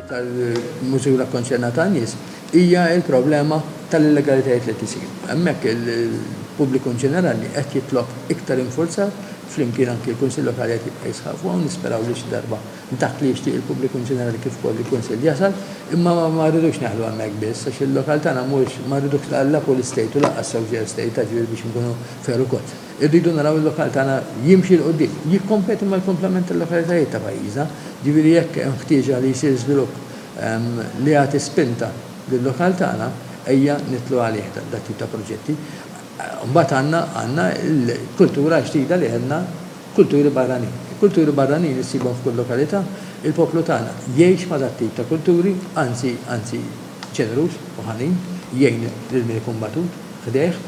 tal-mużura kkonċernata ta' nies hija l-problema tal-illegalitajiet li qed isiru. Hemmhekk il-pubbliku ġenerali qed jitlob iktar infurzar flimkien anki l-Kunsill Lokali qed jibqa' jisħaq fuqha u nisperaw li xi darba dak li jixtieq il-pubbliku ġenerali kif ukoll il-Kunsill jasal, imma ma rridux neħlu hemmhekk biss għax il-lokal tagħna mhuwiex ma rridux la pool estate u lanqas social estate, jiġifieri biex inkunu fair ukoll. Irridu naraw il-lokal tagħna jimxi 'l quddiem, jikkompeti mal-kumplament tal-lokalitajiet ta' pajjiżna, jiġifieri jekk hemm ħtieġa li jsir żvilupp li jagħti spinta lil-lokal tagħna, ejja nidħlu għalih dat-tip ta' proġetti. Mbagħad għandna għandna l-kultura ġdida li għedna kulturi barranin. Il-kulturi barranin issibhom f'kull lokalità, il-poplu tagħna jgħix ma' dat-tip ta' kulturi, anzi anzi ġeneruż u ħanin, jgħin lil min ikun batut ħdejh.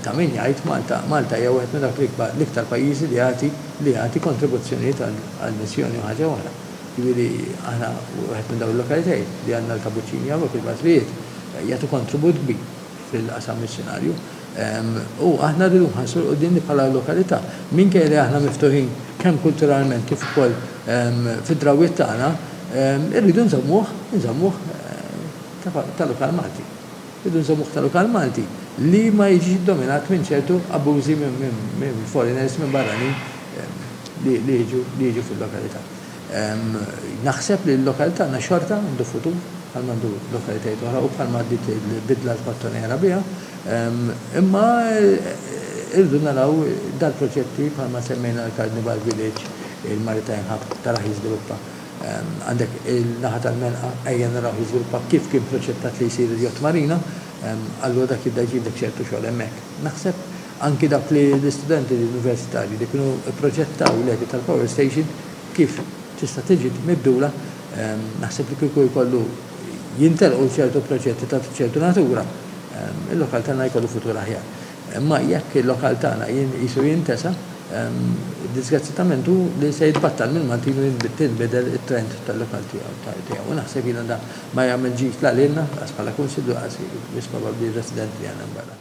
Ta' min jgħid, Malta, Malta hija wieħed minn dawk l-iktar pajjiżi li jagħti, li jagħti kontribuzzjonijiet għall-missjoni u ħaġa oħra. Jiġifieri aħna wieħed minn dawn il-lokalitajiet li għandna l-kapuċċini hawnhekk, il-bażlijiet jagħtu kontribut kbir fil-qasam missjunarju. U aħna rridu nħarsu 'l quddiem li bħala lokalità, minkejja li aħna miftuħin kemm kulturalment kif ukoll fid-drawwiet tagħna, irridu nżommuh, inżommuh ta' lokal Malti. Irridu nżommuh ta' lokal Malti li ma jiġix iddominat minn ċertu abbużi minn foreigners, minn barranin li jiġu li jiġu fil-lokalità. Naħseb li l-lokal tagħna xorta għandu futur bħalma għandu lokalitajiet oħra u bħalma dik il-bidla l-kottonera biha, imma irridu naraw dal-proġetti bħalma semmejna l-Carnival Village, il-Maritime Hub taraħ jiżviluppa. Għandek il-naħa tal-Melqa, ejja narawh jiżviluppa kif kien proċettat li jsir il-yacht marina, allura dak jibda jġibdlek ċertu xogħol hemmhekk. Naħseb anki dawk li l-istudenti universitarji li kienu pproġettaw l-għedi tal-power station kif tista' tiġi mibdula, naħseb li kieku jkollu jintelqu ċertu proġetti ta' ċertu natura, il-lokal tagħna jkollu futur aħjar. Imma jekk il-lokal tagħna qisu jintesa, diżgrazzjatament hu li se jitbattal mill-Maltin u tinbidel it-trend tal-lokal tiegħu. U naħseb jiena dan ma jagħmel ġid la lilna, lanqas bħala Kunsill u lanqas wisq probabbli r-residenti li għandna hemm barra.